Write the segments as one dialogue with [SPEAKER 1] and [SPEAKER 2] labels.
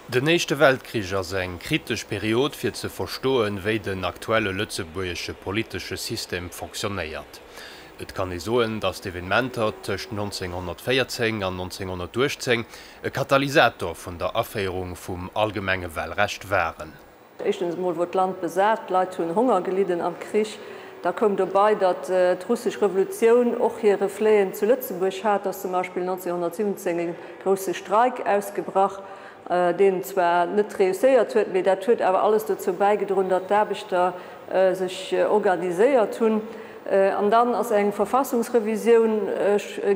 [SPEAKER 1] Den Éischte Weltkrich ass eng kritesch Period fir ze verstoen, wéi den aktuelle lëtzebuergesche politesche System fonctionnéiert. Et kann ee soen, datt d'Evenementer tëscht 1914 an 1918 e Katalysator vun der Aféierung vum allgemenge Walrecht waren. Éischtens emol wor
[SPEAKER 2] d'Land besat, d'Leit hunn Honger gelidden am Krich. Da koum dobei, datt d'Russesch Revolutioun och hir Refleten zu Lëtzebuerg hat, ass zum Beispill 1917 e grousse Streik ausgebrach, deen zwar net reusséiert huet, mee dat huet awer alles dozou bäigedroen, datt d'Aarbechter sech organiséiert hunn. An dann ass eng Verfassungsrevisioun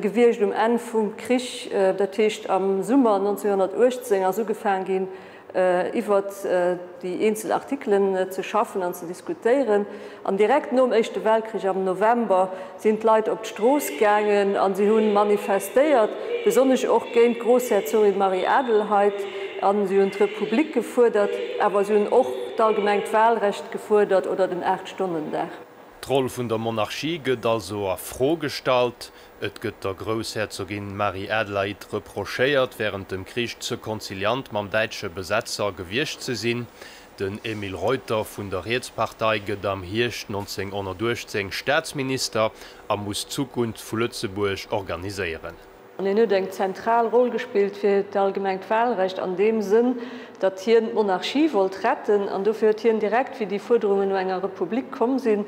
[SPEAKER 2] gewiescht um Enn vum Krich, dat heescht am Summer 1918 ass ugefaang ginn, iwwert déi eenzel Artikelen ze schaffen an ze diskutéieren. An direkt nom Éischte Weltkrich am November sinn d'Leit op d'Strooss gaangen a si hu manifestéiert, besonnesch och géint d'Groussherzogin Marie-Adelheid, a si hunn d'Republik gefuerdert, awer si hunn och d'allgemengt Walrecht gefuerdert oder den Aacht-Stonnen-Dag. D'Roll vun
[SPEAKER 1] der Monarchie gëtt also a Fro gestallt, Et gëtt der Groussherzogin Marie-Adelaïde reprochéiert, wärend dem Krich ze konziliant mam däitsche Besetzer gewiescht ze sinn. Den Emile Reuter vun der Rietspartei gëtt am Hierscht 1918 Staatsminister a muss d'Zukunft vu Lëtzebuerg organiséieren. An hien huet eng
[SPEAKER 2] zentral Roll gespillt fir d'allgemengt Wahlrecht an deem Sënn, datt hien d'Monarchie wollt retten. An dofir huet hien direkt, wéi déi Fuerderungen no enger Republik komm sinn,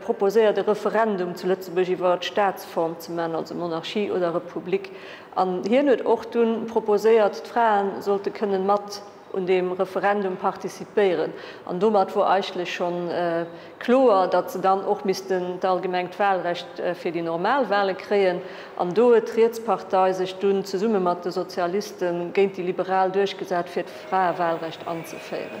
[SPEAKER 2] proposéiert e Referendum zu Lëtzebuerg iwwer d'Staatsform ze man, also Monarchie oder Republik, an hien huet och dunn proposéiert d'Fraen sollte kënnen mat un deem Referendum participéieren. An domat wor eigentlech schonn kloer, datt se dann och missten d'allgemengt Wahlrecht fir déi normal Wahlen kréien, an do huet d'Rietspartei sech dunn zesumme mat de Sozialisten géint déi Liberal duerchgesat fir d'Fraewahlrecht anzeféieren.